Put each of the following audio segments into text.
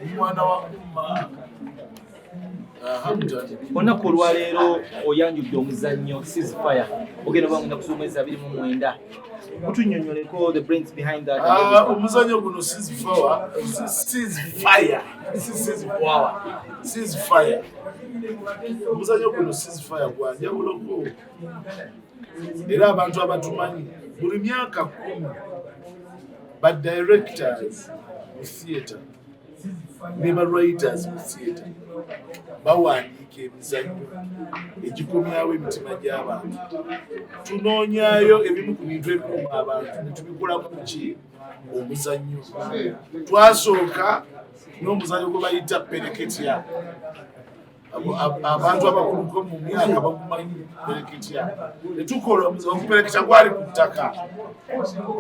omwana wa umma olunaku olwaleero oyanjudde omuzannyo ceasefire ogenda oba ngenda kusoma ezi abiri mu mwenda kutunyonyoleko the brains behind that ah, omuzannyo guno ceasefire omuzannyo guno ceasefire gwanjawuloko era abantu abatumanyi buli myaka kumi ba directors mu theatre ne ba writers mu theatre bawandiika emizanyo egikomyawo emitima gy'abantu tunoonyayo ebimu ku bintu ebikuma abantu netubikolamu ki omuzannyo twasooka n'omuzannyo gwe bayita pereketya abantu abakuluko mu myaka bakumanyi pereketya netukola omuzimu okupereketa gwali ku ttaka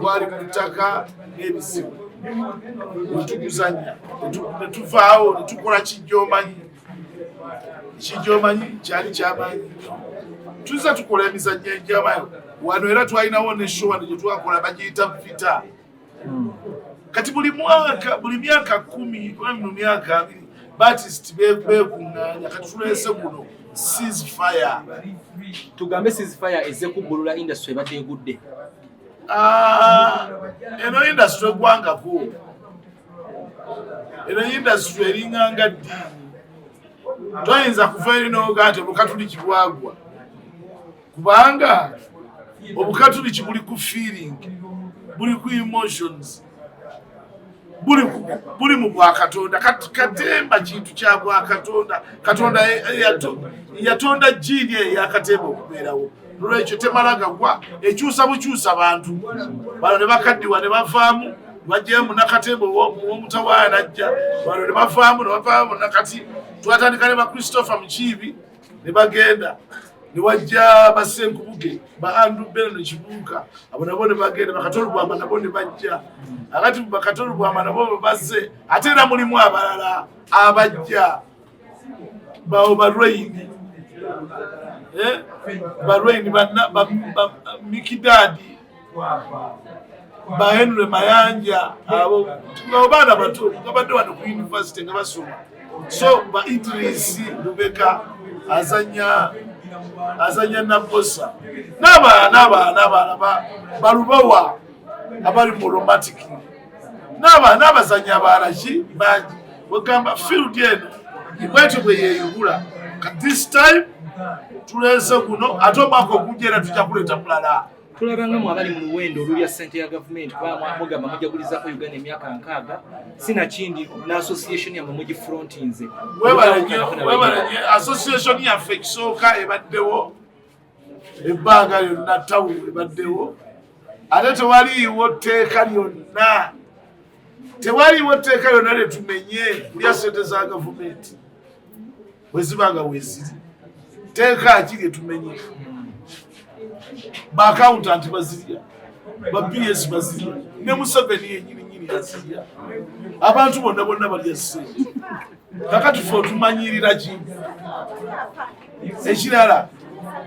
gwali ku ttaka n'ebizibu netuguzanya netuvaawo netukola kijjomanyi kijjomanyi kyali kyamanyi tuzza tukola emizannyo enjamayo wano era twalinawo ne showa ne gyetwakola bagiyita vita hmm. kati buli mwaka buli myaka kumi oba mino myaka abiri batist bekungaanya kati tulese guno ceasefire tugambe ceasefire eze kubbulula industry ebadde egudde ah, eno industry egwangako eno industry eringanga ddiini toyinza kuva eri noga nti olukatuli kibwagwa kubanga obukatuliki buli ku feeling buli ku emotions buli mu bwakatonda katemba kintu kya bwakatonda katonda yatonda jiini eyo yakatemba okubeerawo nolwekyo temala gagwa ekyusa bukyusa bantu bano ne bakaddiwa ne bavaamu bajjayo munakatemba owomutawaana ajja bano ne bavaamu ne bavaamu nakati twatandika ne ba christopher mukiibi ne bagenda ne wajja basenkubuge ba andrew bena ne kibuuka abo nabo ne bagenda bakatolubwama nabo ne bajja akati bakatolubwama nabo babazze ate era mulimu abalala abajja bawo balweyini eh? balweyini bamikidaadi ba henry mayanja abo baana bato babadde wano ku univesity nga basoma so ba idrisi lubeka azanya azanya nabosa nabaana nabaana nabaana balubawa abali mu romatic nabaana abazanya abalaki bangi wegamba field eno ibwetyo bweyeyubula ka this time tulese guno ate omwaka ogujja era tujja kuleeta mulala tulabanga mu abali mu luwendo olulya ssente ya gavumenti kuba mugamba mujagulizako uganda emyaka nkaaga sinakindi ne association yamwe mugifrontinze webalenye association yaffe ekisooka ebaddewo ebbanga lyonna tawu ebaddewo ate tewaliiwo tteeka lyonna tewaliiwo tteeka lyonna lyetumenye kulya ssente za gavumenti bwe ziba nga weziri teeka ki lye tumenye baakawuntanti bazirya ba bs bazirya ne museveni yenyini nyini azirya abantu bonna bonna balya sente kakati fe otumanyirira ki ekirala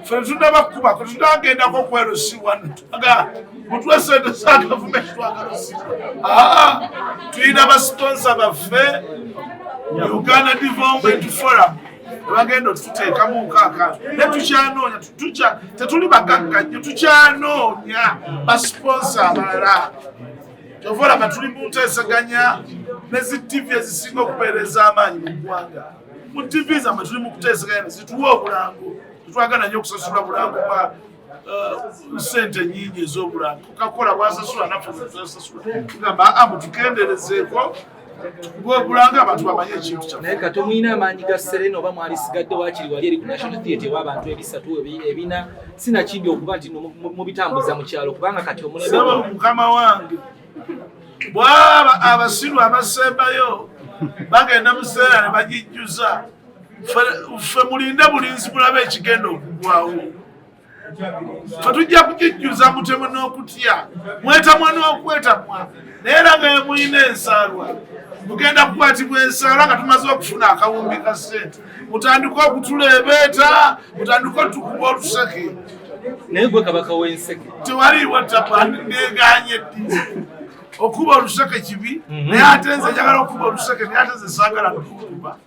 fe tunaba kukuba fe tunagendako okwelusiwa aga mutwe sente za gavumenti twagalusiwa aa tulina basitonsa baffe uganda development forum ebagenda otuteekamu nkaaka ne tukyanoonya tetuli bagagga nyo tukyanoonya basiponsa abalala kyova olaba tuli mu nteeseganya ne zi tivi ezisinga okupeereza amaanyi mu ggwanga mu TV zamwe tuli mukuteesegana zituwa obulango tetwagala nyo okusasula bulango bwa uh, sente nyingi ezobulango kakola bwasasula naffe zasasula tugamba aa ah, mutukenderezeeko bwebulanga abantu bamanye ekintu kya naye kati omuyina amaanyi ga serena oba mwalisigadde wakiri wali eri ku national theatre ewabantu ebisatu ebina sinakindi okuba nti mubitambuza mu kyalo kubanga kati omulembe mukama wange bwaba abasiru abasembayo bagenda mu kiseera ne bagijjuza ffe mulinde bulinzi bulaba ekigenda okugwawo fe tujja kugijjuza mutemu n'okutya mwetamwa n'okwetamwa naye era nga yemulina ensaalwa mugenda kukwatibwa ensaala nga tumaze okufuna akawumbi ka sente mutandika okutuleebeeta mutandika otukuba otuseke naye gwe kabaka w'enseke tewaliiwo tabandi neganye ddi okuba oluseke kibi mhm. naye ate nze njagala okuba oluseke naye ate nze saagala nokuba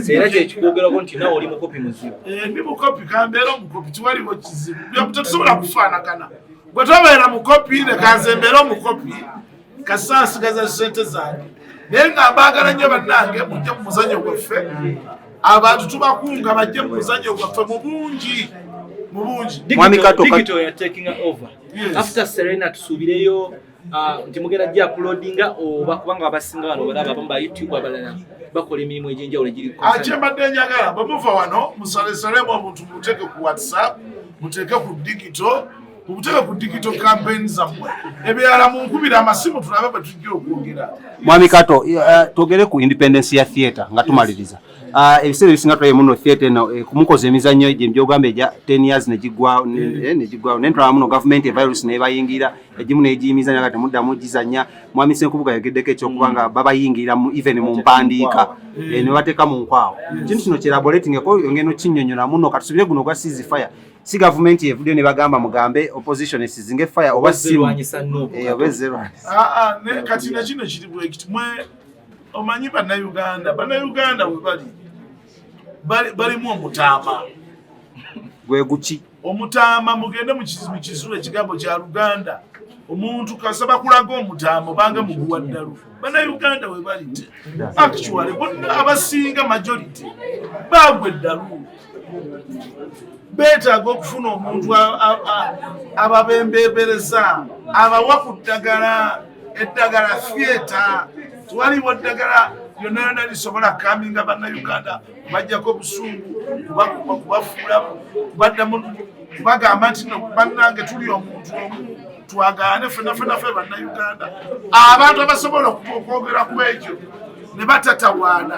era kyekikwogerako nti nawe oli mukopi muzibu eh, ndi mukopi kambeera omukopi tiwaliwo kizibu tetusobola kufaanagana bwe tobeera mukopi ne kanze mbeera omukopi kasa asigaza sente zange naye nga mbaagala nnyo bannange mujje mu muzanyo gwaffe abantu tubakunga bajje mu muzanyo gwaffe mu bungi mu bungi mwami kato ya taking over after serena tusuubireyo uh, nti mugenda jja uploadinga oba kubanga abasinga wano balaba abamu ba youtube abalala bakola emirimu egy'enjawulo egiri akyembadde ah, njagala bwemuva wano musalesalemu omuntu muteeke ku whatsapp muteeke ku digito mubuteeka ku digital campaign zammwe ebyala munkubira amasimu tulabe bwe tujja okwogera mwami kato uh, twogere ku independence ya theatre nga tumaliriza uh, ebiseera ebisinga tulabe muno theatre eno eh, kumukoza emizannyo egyo mbyogamba egya ten years negigwawo eh, negigwawo naye tulaba muno gavumenti evirus nebayingira egimu negiyimizanya nga temuddamu gizanya mwami senkubuga yogeddeko ekyokuba nga mm. babayingirira even mu mpandiika eh, nebateeka mu nkwawo ekintu kino kyeraboratingeko yongeno kinyonyola muno katusubire guno ogwa seas fire si gavumenti evudde ne bagamba mugambe opposition esizinge fire oba simu eh, oba ezerwanyisa ah, ah, kati na kino kiri bwekiti mwe omanyi bannayuganda bannayuganda we bali balimu omutaama gwe guki omutaama mugende mu kizulo ekigambo kya luganda omuntu kasaba kulaga omutaama obanga muguwa ddalu bannayuganda we bali actually bonna abasinga majority bagwe eddalu beetaaga okufuna omuntu ababembeebereza abawa ku ddagala eddagala fyeta twaliwo ddagala lyonna lyonna lisobola kaminga bannayuganda bajjako obusungu kubafuula baddamu bagamba nti bannange tuli omuntu omu twagaane fenafenafe bannayuganda abantu abasobola okwogera ku ekyo ne batatawaana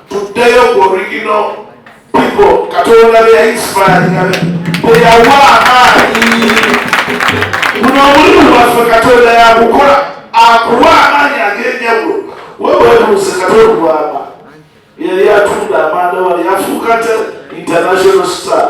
Tuddeyo ku original people Katonda be yayisipaalinga be yawa amaanyi. Guno omulimu waffe Katonda yagukola akuwa amaanyi ag'enjawulo. Wewe webuuze Katonda bwaba yali atunda amanda wali afuuka te international star.